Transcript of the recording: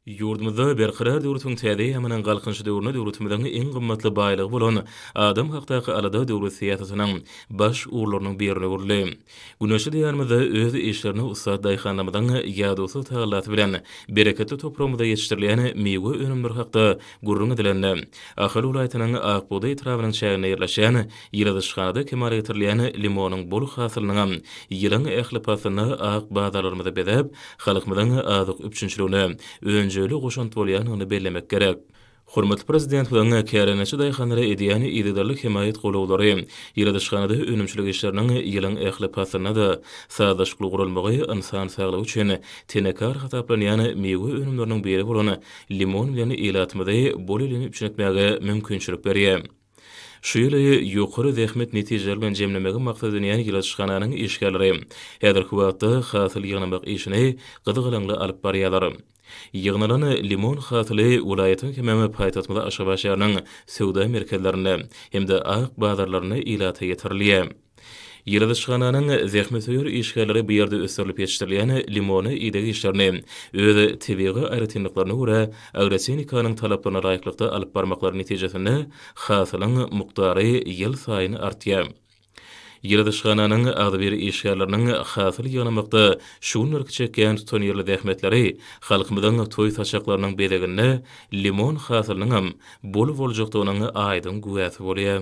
Ýurdumyzda Berkarar döwletiň täze eýýamynyň Galkynyş döwründe döwletimiziň iň gymmatly baýlygy bolan adam hakdaky alada döwlet syýasatynyň baş ugurlarynyň biri öwrüldi. Güneşli Diýarymyzda öz işlerine ussat daýhanlarymyzyň ýadawsyz tagallasy bilen bereketli topragymyzda ýetişdirilýän miwe önümleri hakda gürrüň edilende, Ahal welaýatynyň Akbugdaý etrabynyň çäginde ýerleşýän Ýyladyşhada kemala getirilýän limonyň bol hasylynyňam ýylyň ähli paslynda ak bazarlarymyzy bezäp, halkymyzyň azyk üpjünçiligine önjeýli goşant bolýandygyny bellemek gerek. Hormatly Prezidentimiziň kärendeçi daýhanlara edýän yzygiderli hemaýat golawlary, ýyladyşhanada önümçilik işleriniň ýylyň ähli paslynda-da sazlaşykly guralmagy ynsan saglygy üçin tenekar hasaplanýan miwe önümleriniň biri bolan limon bilen ilatymyzy bol elini üpjün etmäge mümkinçilik berýär. Şu ýyly ýokary zähmet netijeleri bilen jemlemegi maksat edinýän ýyladyşhananyň işgärleri häzirki wagtda hasyl ýygnamak işini gyzgalaňly alyp barýarlar. Ýygnalan limon hasyly welaýatyň hemem paýtagtymyz Aşgabat şäheriniň söwda merkezlerinde hem-de ak bazarlarynda ilata ýetirilýär. Ýyladyşhananyň zähmetsöýer işgärleri bu ýerde ösdürilip ýetişdirilýän limony ideg işlerini öz tebigy aýratynlyklaryna görä agrotenikanyň talaplaryna laýyklykda alyp barmaklary netijesinde hasylyň mukdary ýylsaýyn artýar. Ýyladyşhananyň agzybir işgärleriniň hasyl ýygnamakda şu günlerki çekýän tutanýerli zähmetleri halkymyzyň toý saçaklarynyň bezeginde limon hasylynyňam bol boljakdygynyň aýdyň güwäsi bolýar.